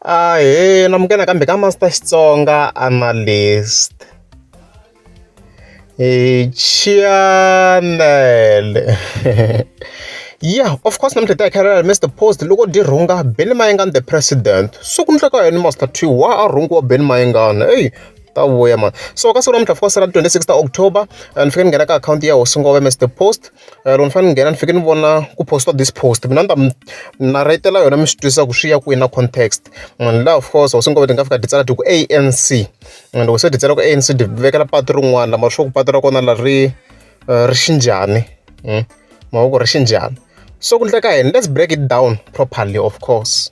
Ahee na munghana nakambe ka Master Xitsonga Analyst. Chiyamele yeah of course namuntlha hi ta hi kha hi ri Mister Post loko dyi rhunga Benny Mayengani the president so ku endleka yini Master Twi wa a rhungiwa Benny Mayengani eyi ta vuya mani so ka siku namuntlha of course ra twenty six ta October ni fike ni nghena ka akhawunti ya hosi Ngome Mister Post loko ni fanele ni nghena ni fanekele ni vona ku post-iwa this post mina ni ta mi narhetela yona mi swi twisisa ku swi ya kwini na context munhu luya of course loko se ni kombeta ni nga fika ni ti tsala ku A_N_C and loko se ni ti tsala ku A_N_C ni ti vekela patu rin'wana mara sure ku patu ra kona leri ri ri xi njhani mavoko ri xi njhani so ku endleka yini let's break it down properly of course.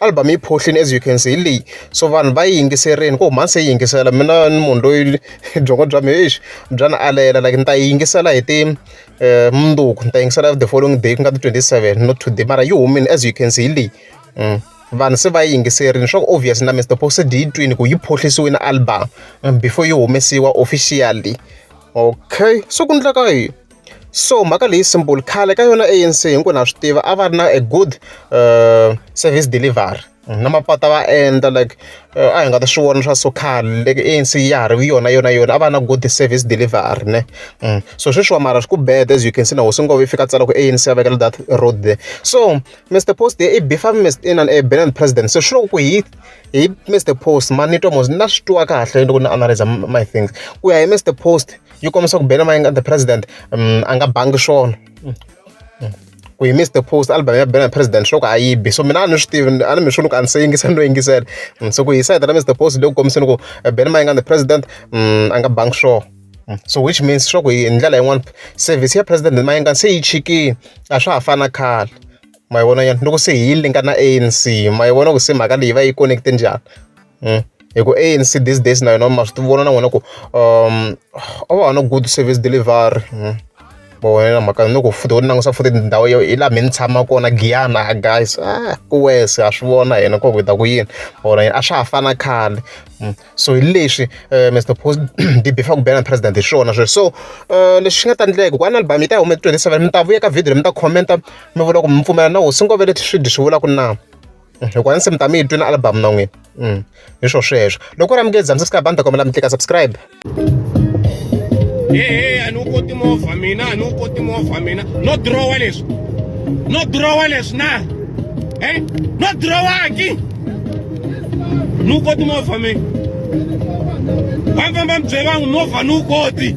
album yi phohlini as you can see hi leyi so vanhu va yi yingiserile ku huma se yi yingisela mina ni munhu loyi byongo bya mina exi bya ni alela like ni ta yi yingisela hi ti um mundzuku ni ta yingisela the following day ku nga ti-twenty seven not today mara yi humile as you can see hi leyi mm. vanhu se va yi yingiserile swa ku obvious na mr po se yi twini ku yi phohlisiwile album mm, before yi humesiwa officially okay so ku ndleka yini So mhaka leyi simple khale ka yona A_N_C hinkwenu na swi tiva a va ri na a good service delivery na mapatu va endla like a hi nga ta swi vona swa so khale loko A_N_C ya ha ri yona yona yona a va na good service delivery ne so sweswiwa mara swi ku bad as you can see na hosi Ngome yi fika a tsala ku A_N_C a vekela that road there so Mister Post i beef-a inana a banana president se swi lava ku hi hi Mister Post manito mos na swi twa kahle loko ni analyser my things ku ya hi Mister Post. yi kombisa ku bela mayinga the president um, a nga bangi swona mm. Mm. ku yi miss the post album ya bela president swo ku a yi bi so mina a ni swi tivi a ni mi swi ni ku a ni se yingisela no yingisela mm, so ku yi sayita na miss the post leyi ku kombiseni ku eh, bela mayinga the president um, a nga bangi swona so which means swa ku hi ndlela yin'wana service ya president mayinga se yi chikile a swa ha fana khale ma yi vona yani loko se hi yi linka na anc ma yi vona ku se mhaka leyi va yi connecte njhani hi ku A_N_C these days na yona ma swi tivona na n'wina ku a va ha no good service delivery ma vona na mhaka ni ku futhi ho ti langutisa futhi ndhawu yo hi laha me ni tshama kona giyani a guys a ku worse ha swi vona hina ku hi ta ku yini ma vona a swa ha fani na khale so hi leswi Mister Post hi beef-a ku bela president hi swona sweswo so leswi swi nga ta endleka ku album yi ta huma twenty seven mi ta vuya ka video leyi mi ta comment mi vula ku mi pfumela na hosi Nkovele swidyi swi vula ku na. loko a ndzi se mi ta mi yi twi na album na n'wina mm. hi swo sweswo loko u ri amukeli bya subscribe a ni ta kombela mi tlika subscribe ehe a ni wu koti movha mina a ni wu koti movha mina no drowa leswi no drowa leswi na e no drowaki ni wu koti movha mina va famba mi byela vangu movha ni wu koti